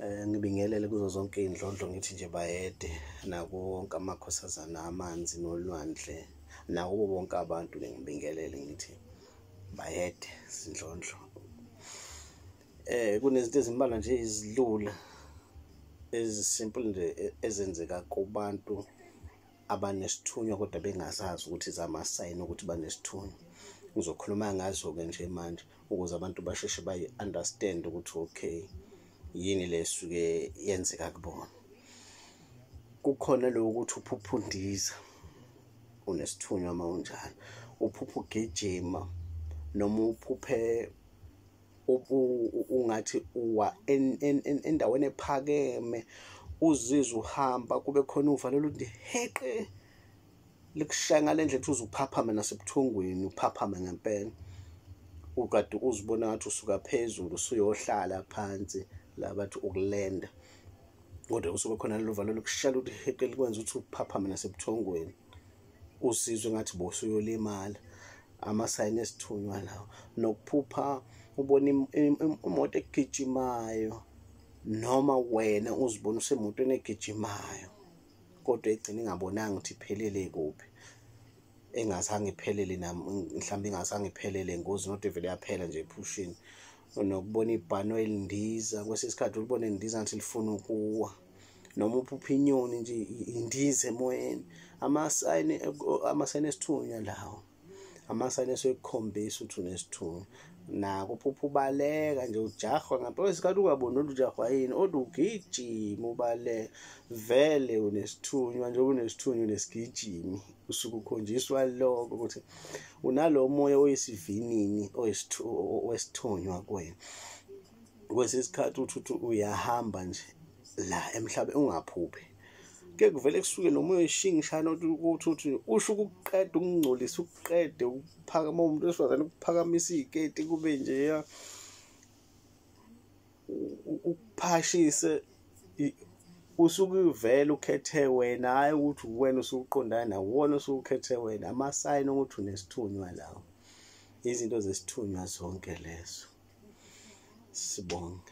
Eh ngibingelele kuzo zonke indlondlo ngithi nje bayede nako wonke amakhosazana amanzi nolwandle nako bonke abantu ngibingelele ngithi bayede sindlondlo. Eh kunezinto ezimbalwa nje izilula ezisimple nje e-, ezenzeka kubantu abanesithunywa kodwa bengazazi ukuthi zamasayini ukuthi banesithunywa ngizokhuluma ngazo-ke nje manje ukuze abantu basheshe bayi-understand ukuthi okay yini le suke yenzeka kubona kukhona lokho ukuthi uphupha undiza unesithunywa uma unjalo uphupha ugijima noma uphuphe ungathi uwa endaweni ephakeme uzizwa uhamba kube khona uvalelo uthi heqe likushaya ngale ndlela ukuthi uze uphaphame nasebuthongweni uphaphame ngempela ukade uzibona ngathi usuka phezulu usuyohlala phansi la bathi ukulenda kodwa usuke khona lelo valo lokushala ukuthi heqe likwenza ukuthi uphaphame nasebuthongweni usizwe ngathi bosuyolimala amasayini esithunywa lawo nokuphupha ubona imoto egijimayo noma wena uzibona usemotweni egijimayo kodwa egcina ingabonanga ukuthi iphelele kuphi engazange iphelele mhlawumbe ingazange iphelele ngozi not evele yaphela nje ephushini nokubona ibhano elindiza kwesinye isikhathi ulibone lindiza ngathi lifuna ukuwa noma uphupha inyoni nje indiza emoyeni amasayini amasayini esithunywa lawo amasayini esekukhombisa ukuthi unesithunywa nako uphupha ubaleka nje ujahwa ngempela isikhathi ungaboni ukuthi ujahwa yini odwa ugijima ubaleka vele unesithunywa njengoba unesithunywa unesigijimi usuke ukhonjiswa lokho ukuthi unalo moya oyisivinini wesithunywa kwena kwesinye isikhathi uthi uyahamba nje la emhlabeni ungaphuphi ke kuvele kusuke nomoya oyishingi shana ukuthi uthi usho ukuqeda ukungcolisa ukuqede ukuphakama umuntu wesifazane ukuphakamisa iy'keti kube njeya ukuphashise usuke uvele ukhethe wena hhayi ukuthi uwena usuqondana nawo wona usuwukhethe wena amasayini okuthi unesithunywa lawo izinto zesithunywa zonke lezo sibonge